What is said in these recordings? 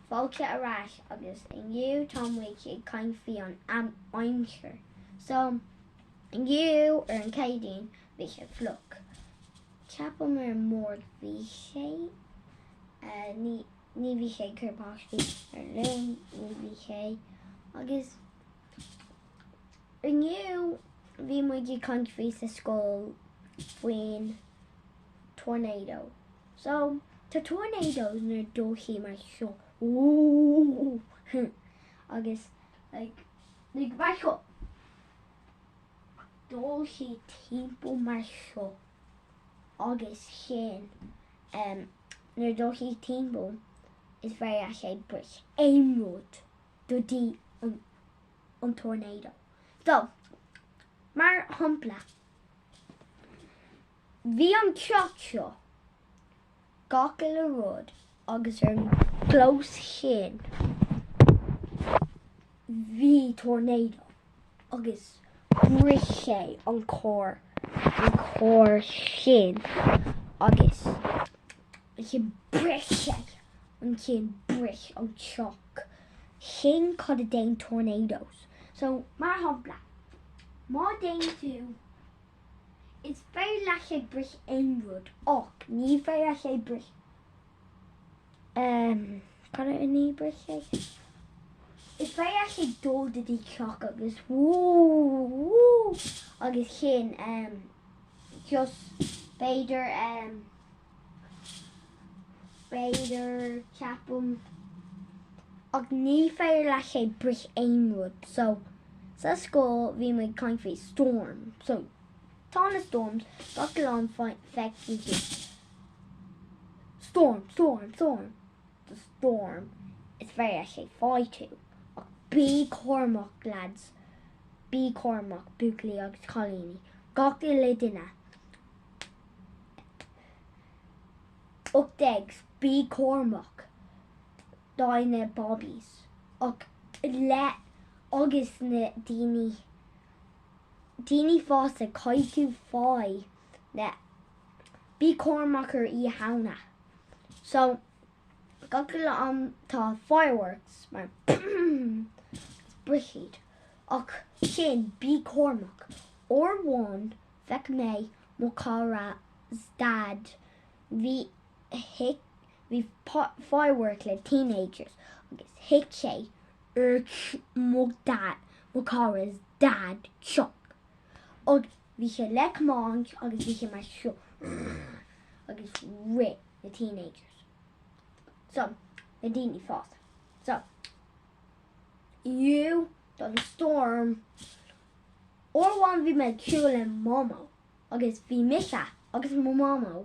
fáilte ar ais agus inniu tá muid ag caint faoin aimsir. So, inniu ar an Chéadaoin bhí sé fliuch. Ceapaim ar an Máirt bhí sé, ní bhí sé ag cur báistí ar Luan, ní bhí sé. Agus inniu bhí muid ag caint faoi sa scoil faoin tornado. So, tá tornadoes nuair a dtéann sé mar seo ooh agus like like mar seo téann sé timpeall mar seo agus sin em nuair a dtéann sé timpeall is féidir le sé bris aon rud do dtí an an tornado. So, mar shompla. Bhí an teach seo gach uile rud agus ar an gclós sin bhí tornado agus bris sé an carr sin agus bris sé an ceann bris an teach sin cad a déan tornados so mar shampla má déan tú Is féidir le sé bris aon rud ach ní féidir le sé bris um, cad a ní bris sé? Is féidir le sé dul go dtí teach agus agus sin um, just b'fhéidir um, b'fhéidir, ceapaim, ach ní féidir le sé bris aon rud so sa scoil bhí muid ag caint faoi Storm so tá na Storms gach uile am feicfidh tú Storm Storm Storm the Storm is féidir le sé fáil tú ach bí cúramach lads bí cúramach Buachaillí agus Cailíní gach uile duine 18 bí cúramach dá na Bobbies ach le agus na daoine daoine fásta caith tú bheith an-, bí cúramach ar Oíche Shamhna so gach uile am tá fireworks mar brighid ach sin bí cúramach ar amháin feic mé mo chara's dad bhí bhí firework le teenagers agus thit sé ar mo chara's dad teach agus bhí sé ag tiomáint agus bhí sé mar seo agus rith na teenagers so na daoine fásta so you'd an storm Uair amháin bhí mé ag siúl le Mamó agus bhí mise agus mo Mhamó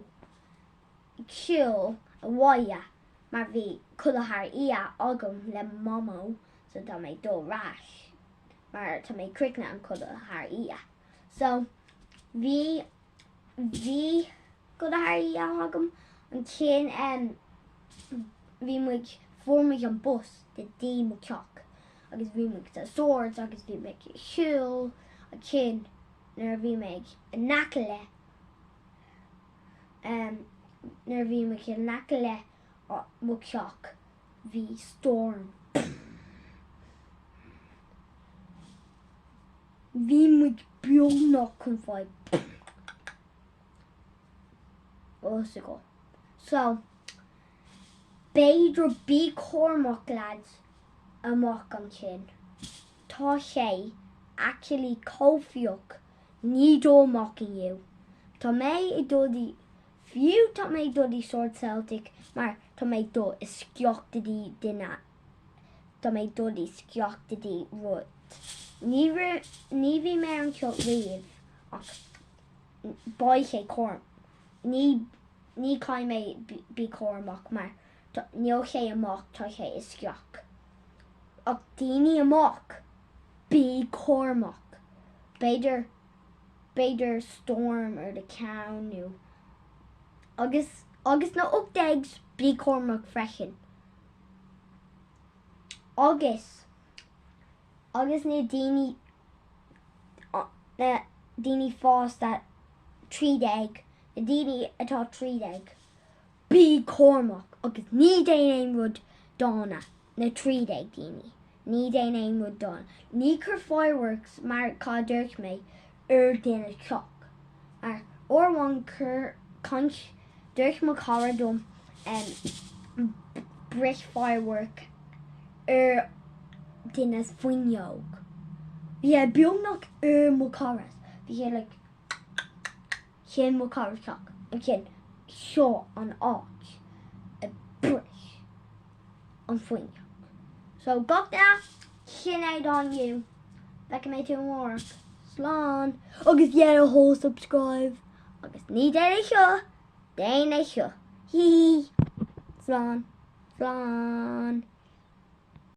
ag siúl abhaile mar bhí codladh thar oíche agam le Mamó so tá mé ag dul ar ais mar tá mé ag críochnaigh an codladh thar oíche so bhí bhí codladh thar oíche agam an chéann em bhí muid fuair muid an bus go dtí mo teach agus bhí muid sa swords agus bhí mé ag siúl an chéann nuair a bhí mé ag in aice le em nuair a bhí mé ag in aice le mo teach bhí storm Bhí muid beagnach chun fáil bás. So, b'fhéidir bí cúramach lads amach ansin. Tá sé actually chomh fliuch ná dul amach inniu. Tá mé ag dul dtí, fiú tá mé ag dul dtí Swords Celtic mar tá mé ag dul isteach go dtí duine tá mé ag dul isteach go dtí rud. Ní raibh, ní bhí mé anseo riamh ach beidh sé cúram, ní, ní caithfidh mé bí cúramach mar tá, níl sé amach, tá sé isteach. Ach daoine amach, bí cúramach! B'fhéidir, b'fhéidir storm ar do cheann nó. Agus, agus na ocht déags, bí cúramach freisin! agus agus na daoine na daoine fásta trí déag na daoine atá trí déag bí cúramach agus ná déan aon rud dána na trí déag daoine ná déan aon rud dána ná cuir fireworks mar cad dúirt mé ar duine teach ar uair amháin cur caint dúirt mo cara dom bris firework ar duine fuinneog bhí sé beagnach ar mo cara bhí sé like. Sin mo charr. Ach ansin seo an áit a bhris an fhuinneog. So gach duine sin é anois, feicfidh mé tú amárach, slán! Agus déan do thoil subscribe agus ná déan é seo, déan é seo, hee hee! Slán! Slán!